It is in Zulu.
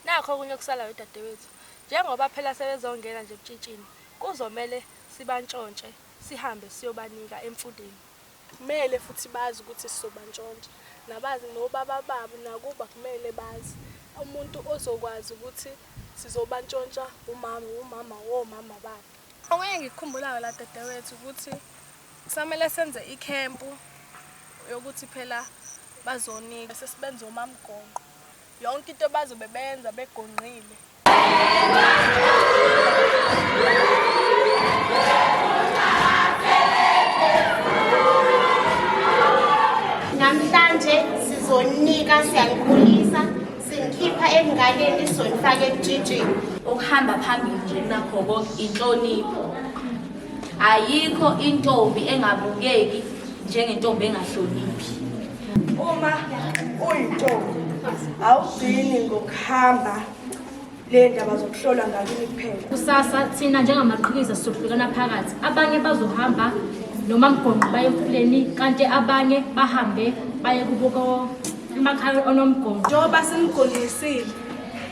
Nakho okunye okusalayo dadewethu, njengoba phela sebezongena nje ebutshitshini, kuzomele sibantshontshe sihambe siyobanika emfuleni. Kumele futhi bazi ukuthi sizobantshontsha, nabazi nobaba babo nakuba kumele bazi. Umuntu ozokwazi ukuthi sizobantshontsha wumama, wumama womama babo. Okunye engikukhumbulayo la dadewethu ukuthi kusamele senze ikhempu yokuthi phela bazonika, sesibenza omamgonqo. Yonke into bazobe benza begonqile. Namhlanje sizonika siyanikhulisa sinikhipha ekunganeni sizonifaka ekujijini. Ukuhamba phambili nje nakho konke inhlonipho. Ayikho intombi engabukeki njengentombi engahloniphi. uma uyintombi awugcini ngokuhamba le ndaba zokuhlola ngakini kuphela kusasa thina njengamaqhikiza sizohlukana phakathi abanye bazohamba noma mgonqo baye emfuleni kanti abanye bahambe baye kubuko emakhaya onomgonqo njengoba simgondisile